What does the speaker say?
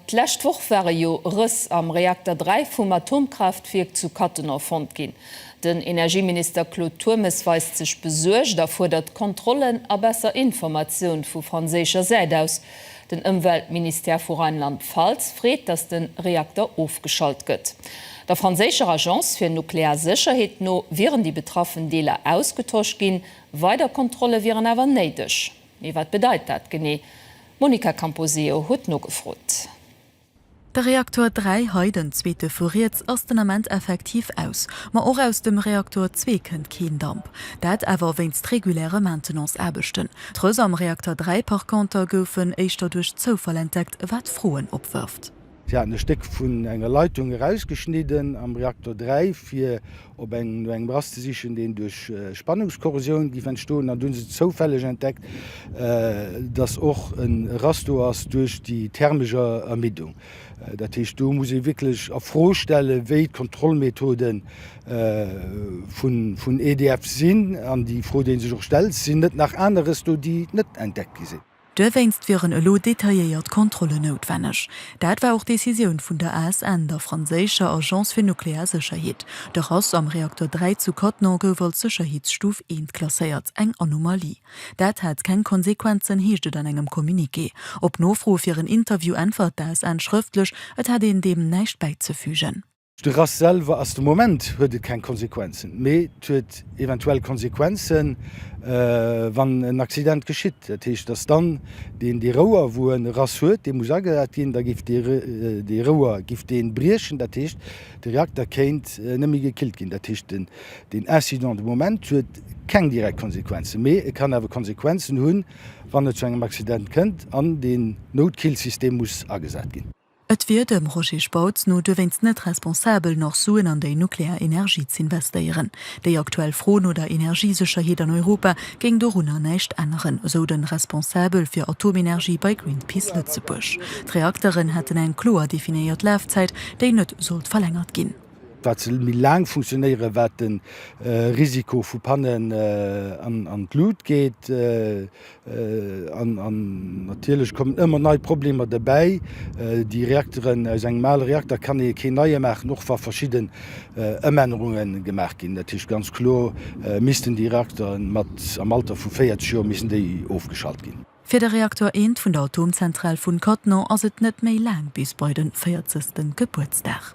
D'lescht Woch ware jo Rëss am Reakter 3 vum Atomkraaftwierk zu Cattenom fonnt ginn. Den Energieminister Claude Turmes weist sech besuergt a fuerdert Kontrollen a besser Informatioun vu franséischer Säit aus. Den Ëmweltministère vu Rheinland-Pfalz freet, datt de Reakter ofgeschalt gëtt. Der franséischer Agence fir nuklear Sécherheet no wieren déi betraffen Deeler ausgetosch ginn. Weider Kontrolle wieren awer néideg. Mee wat bedeit dat genee? D'Monica Camposeo huet nogefrot. De Reaktor 3, hei den zweete vu riets, ass den Ament effektiv aus. Ma och aus dem Reaktor 2 kënnt keen Damp. Dat awer wéinst reguläre Maintenance-Aarbechten. D'Röse am Reakter 3 par conter goufen éischter duerch Zoufall entdeckt, wat Froen opwërft. Si haten e Stéck vun enger Leitung erausgeschnidden am Reaktor 3, fir op engem no engem Rast ze sichen, deen duerch Spannungskorrosioun géif entstoen. An du hunn se zoufälleg entdeckt, datt och e Rast do ass duerch déi thermesch Ermiddung. Dat heescht, do muss ee wierklech a Fro stellen, wéi d'Kontrollmethode vun EDF sinn. An déi Fro, déi ee sech och stellt, Sinn net nach aneres do, déi net entdeckt gi sinn? Duerwéinst wieren elo detailléiert Kontrollen noutwenneg. Dat war och d'Decisioun vun der ASN, der franséischer Agence fir nuklear Sécherheet. De Rass am Reakter 3 zu Cattenom gouf als Sécherheetsstuf 1 klasséiert, eng Anomalie. Dat hat keng Konsequenzen, heescht et an engem Communiqué. Op Nofro fir en Interview äntwert d'ASN schrëftlech, et hätt een deem näischt bäizefügen. De Rass selwer ass, de Moment huet et keng Konsequenzen, mee et huet eventuell Konsequenzen, wann en Accident geschitt. Dat heescht, dass dann deen, dee Rouer, wou en e Rass huet, dee muss agesat ginn, da géif dee, dee Rouer géif deen briechen. Dat heescht, de Reakter kéint net méi gekillt ginn. Dat heescht, den, deen Incident de Moment huet keng direkt Konsequenzen, mee e kann awer Konsequenzen hunn, wann et zu engem Accident kënnt an deen Noutkillsystem muss agesat ginn. Et wier dem Roger Spautz no duerwéinst net responsabel, nach Suen an déi nuklear Energie z'investéieren. Déi aktuell Fro no der Energiesécherheet an Europa géing dorunner näischt änneren, esou de Responsabel fir Atomenergie bei Greenpeace Lëtzebuerg. D'Reakteren hätten eng kloer definéiert Lafzäit, déi net sollt verlängert ginn. Wat se méi laang funktionéieren, wat de Risiko vu Pannen an d'Lut geet. An natierlech kommen ëmmer nei Problemer derbäi. Déi Reakteren, aus engem ale Reakter kann ee keen neie maachen, och wa verschidden Ëmännerunge gemaach ginn. Dat heescht ganz kloer missten déi Reakteren mat am Alter vu 40 Joer missten déi ofgeschalt ginn. Fir de Reaktor 1 vun der Atomzentral vun Cattenom ass et net méi laang bis bei de véierzegsten Gebuertsdag.